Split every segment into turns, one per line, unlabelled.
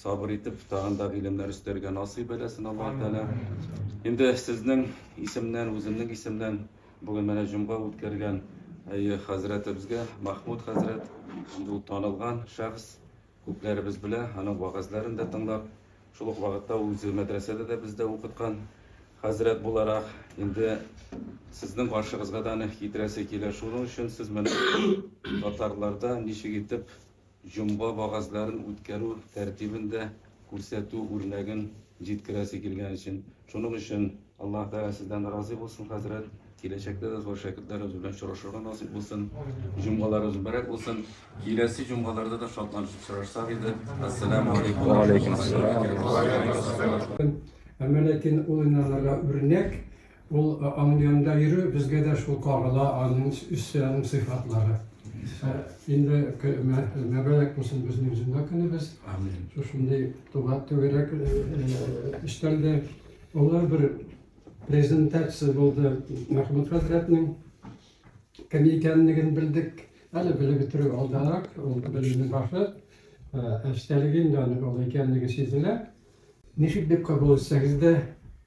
Сабыр итеп тагын да гыйлемнәр өстәргә насыйп әйләсен Аллаһ Тәгалә. Инде сезнең исемнән, үземнең исемнән бүген менә җомга үткәргән әйе хәзрәтебезгә, Махмуд хәзрәт, инде ул танылган шәхес, күпләребез белә, аның вәгазьләрен дә тыңлап, шул ук вакытта ул үзе мәдрәсәдә дә бездә укыткан хәзрәт буларак, инде сезнең каршыгызга да аны китерәсе килә. Шуның өчен сез менә татарларда ничек итеп Җомга вәгазьләрен үткәрү тәртибен дә күрсәтү үрнәген җиткерәсе килгән өчен. Шуның өчен Аллаһ Тәгалә сездән разый булсын, хәзрәт. Киләчәктә дә зур шәкертләребез белән очрашырга насыйп булсын. Җомгаларыгыз мөбарәк булсын. Киләсе җомгаларда да шатланышып очрашсак иде. Әссәламү алейкум ва рахмәтуллаһи ва
бәрәкәтүһ.
Әмма ләкин ул инанырга үрнәк, Ул аның янында йөрү безгә дә шул кагыла, аның үзе, аның сыйфатлары. Инде мәбәләк булсын безнең җомга көнебез. Амин. Шушындый туган түгәрәк өстәлдә олы бер презентация булды Мәхмүт хәзрәтнең кем икәнлеген белдек. Әле белеп бетерү алдарак, ул белемнең башы. Ә эчтәлеге инде аның ул икәнлеге сизелә. Ничек дип кабул итсәгез дә,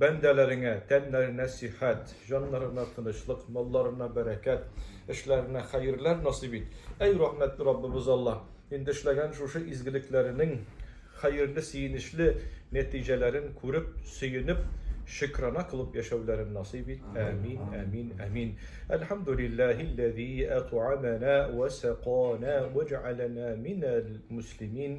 Бәндәләреңә тәннәренә сихәт, җаннарына тынычлык, малларына бәрәкәт, эшләренә хәерләр насыйп ит. Әй рәхмәтле Раббыбыз Аллаһ, инде эшләгән шушы изгелекләренең хәерле сөенечле нәтиҗәләрен күреп, сөенеп, шөкрана кылып яшәүләрен насыйп ит. Әмин, әмин, әмин. Әлхәмдүлилләһилләзи әтъамана вә сәкана вә җәгаләнә минәл муслимин